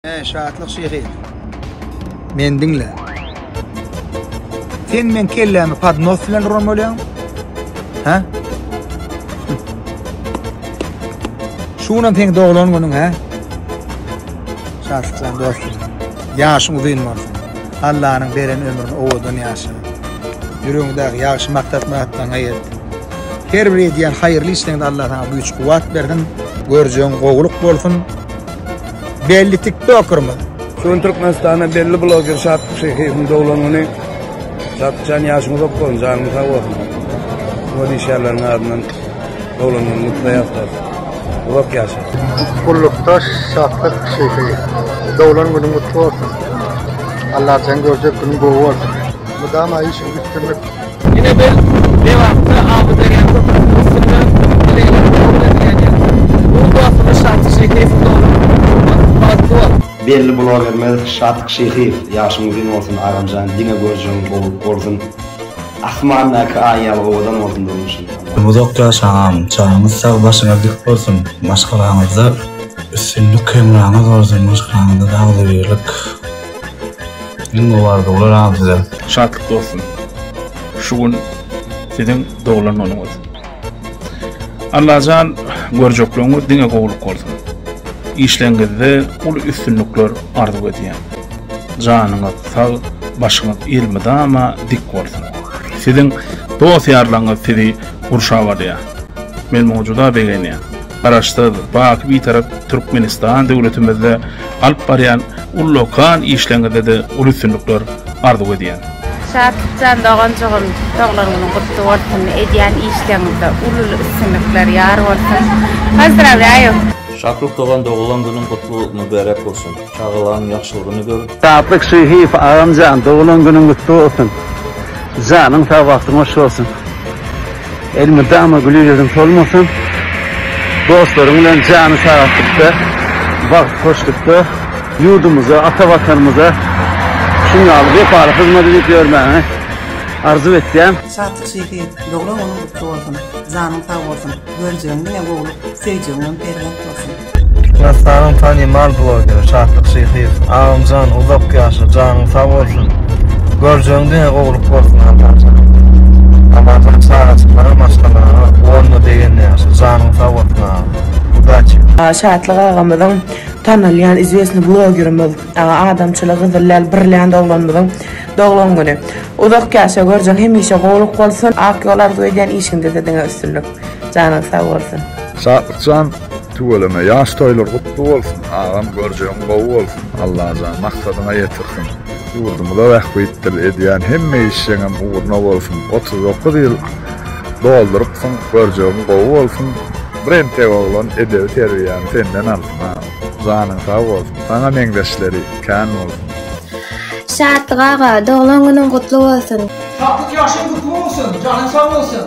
Eý şatlyk şehi. Men diňle. Sen men kellämi podnos bilen uran bolýaň? Ha? Şu günüm seň doglan günüň ha? Şatlyklar dostum. Ýaşyň uzyn bolsun. Allanyň beren ömrüni owadan ýaşa. Ýüregiňdäki ýagşy maksat-myratlaryňa ýet. Her bir edýän haýyrly işleňde Allah sana güýç kuwwat bersin. Görjeň gowulyk bolsun. Belli tiktokerimiz. Şu Türkmenistana belli bloger Şatlyk Şeýhiýewiň dowlanyny Şatlyjan ýaşyň uzak bolsun, janyň sag bolsun. Şuňa diýişýärleriň adyndan dowlanyny gutlaýarys. Uzak ýaşa. Gullukdaş Şatlyk Şeýhiýew. Dowlan günüň gutly bolsun. Allajan görjek günüň gowy bolsun. Mydama işiňi üstünlik. Ine biz Lebapda Amyderýa köprüsiniň üstünde bilelikde kabul edilýän ýaly. Bu dostumyz Şatyk Şyhyýewiň doglan günüdür. Barat dost! Belli blogermiz Şatyk Şyhyýew ýaşyň uzyn bolsun agamjan diňe görjegiň gowy bolsun asmandaky aý ýaly owadan bolsun durmuşyň. Uzak ýaşa agam janyňyz sag başyňyz dik bolsun maşgalaňyzda üstünlik hemraňyz bolsun maşgalaňyzda dagly birlik. Iň gowy arzuwlar agam size. Şatlyk dostum. Şu gün siziň doglan güniňiz. Allajan görjekligiňiz diňe gowulyk bolsun. Işleňizde uly üstünlikler arzuw edýän. Janyňyz sag, başyňyz elmydama dik bolsun. Siziň dost-ýarlaryňyz sizi gurşap alýar. Men muňa juda begenýän. Garaşsyz, baky Bitarap Türkmenistan döwletimizde alyp barýan ullakan işleriňizde-de uly üstünlikler arzuw edýän. Şatlykjan doganjygym doglan günüň gutly bolsun edýän işleriňizde uly uly üstünlikler ýar bolsun. Pozdrawlýaýu. Şatlyk dogan doglan günüň gutly mübärek bolsun. Çagalaň ýagşylygyny gör. Saatlyk Şyhyýew agamjan doglan günüň gutly bolsun. Janyň sag bagtyň hoş bolsun. Elmydama güli ýüzüň solmasyn. Dostlaryň bilen jany sagaltlykda, bagt hoşlukda ýurdumyza, ata watanymyza şuň ýaly wepaly hyzmat edip ýörmäňi arzuw etýän. Şatlyk Şyhyýew doglan günüň gutly bolsun. Janyň sag bolsun. Görjegiň diňe gowluk, söýjegiňem perzent bolsun. Türkmenistanyň tanymal blogeri Şatlyk Şyhyýew. Agamjan uzak ýaşa, janyň sag bolsun. Görjegiň diňe gowulyk bolsun Agamjan. Agamjan çagaçyklaryň maşgalaňa bolma degende ýaşa. Janyň sag bolsun agam. Udaçi. Şatlyk agamyzyň tanalýan izwesni blogerimiz adamçyly gyzyl lal birlend oglanmyzyň doglan güni. Uzak ýaşa görjeň hemişe gowulyk bolsun ak ýol arzuw edýän işiňdede diňe üstünlik. Janyň sag bolsun. Şatlykjan Tüweleme ýaş toýlar gutly bolsun agam görjegiň gowy bolsun Allajan maksadyňa ýetirsin ýurdumyza bähbitdir edýän hemme işjeňem ugruna bolsun otuz dokuz ýyl doldurypsyň görjegiň gowy bolsun bir entek oglan edebi terbiýäni senden aldym agam janyň sag bolsun saňa meňzeşleri kän bolsun. Şatlyk aga doglan günüň gutly bolsun. Şatlyk ýaşyň gutly bolsun janyň sag bolsun.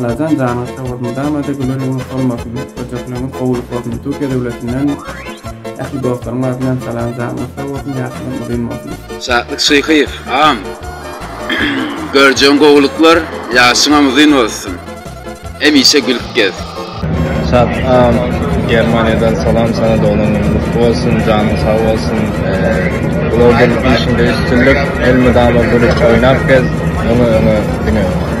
Alajan janyň sag bolsun mydamada güler ýüzüň solmasyn hötdejekleňiz gowulyk bolsun türkiýe döwletinden ähli dostlaryň adyndan salam janyňyz sag bolsun ýaşlygyň uzyn bolsun. Şatlyk Şyhyýew agam görjegiň gowulyklar ýaşyňam uzyn bolsun hemişe gülüp gez. Şat agam Germaniýadan salam sana doglan günüň gutly bolsun janyň sag bolsun blogerlik işiňde üstünlik elmydama gülüp oýnap gez öňe öňe diňe öňe.